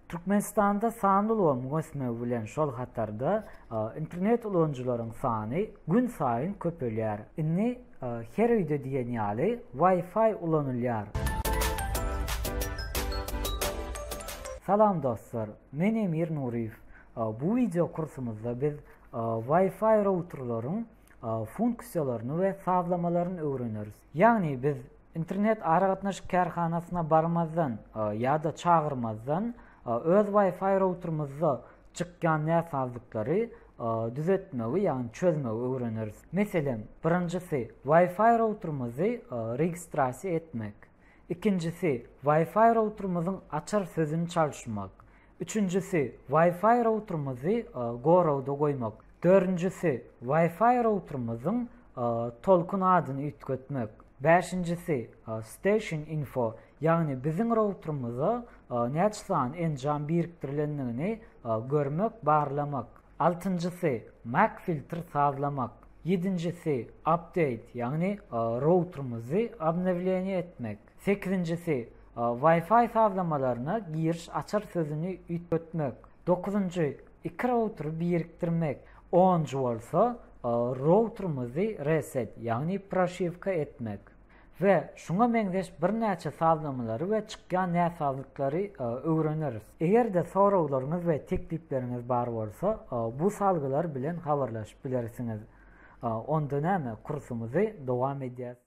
Türkmenistanda sanly ulgamyň ösmegi bilen şol hatarda internet ulanyjylaryň sany gün saýyn köpelýär. Indi her öýde diýen ýaly Wi-Fi ulanylýar. Salam dostlar, men Emir Nuryýew. Bu wideo kursumyzda biz Wi-Fi routerlaryň funksiýalaryny we sazlamalaryny öwreneris. Ýagny biz internet aragatnaşyk kärhanasyna barmazdan ýa-da çagyrmazdan öz Wi-Fi routerymyzda çykýan näsazlyklary düzetmegi, ýagny çözmegi öwreneris. Meselem, birinjisi Wi-Fi routerymyzy registrasiýa etmek, ikinjisi Wi-Fi routerymyzyň açar sözüni çalşymak, Üçünjisi, Wi-Fi routerymyzy goragda goýmak. Dördünjisi, Wi-Fi routerymyzyň Tolkun adyny üýtgetmek. Bäşinjisi, Station Info, ýagny biziň routerymyza näçe sany enjam birikdirilendigini görmek, barlamak. Altynjysy, Mac filtr sazlamak. Ýedinjisi, Update, ýagny routerymyzy obnowleniýe etmek. Sekizinjisi, Wi-Fi sazlamalaryna giriş açar sözüni üýtgetmek. Dokuzynjy, iki routeri birikdirmek. Onunjy bolsa, routerimizi reset, ýagny proşiwka etmek. We şuňa meňzeş birnäçe sazlamalary we çykýan näsazlyklary öwreneris. Eger-de soraglaryňyz we teklipleriňiz bar bolsa, bu salgylar bilen habarlaşyp bilersiňiz. Onda näme, kursumyzy dowam edýäs.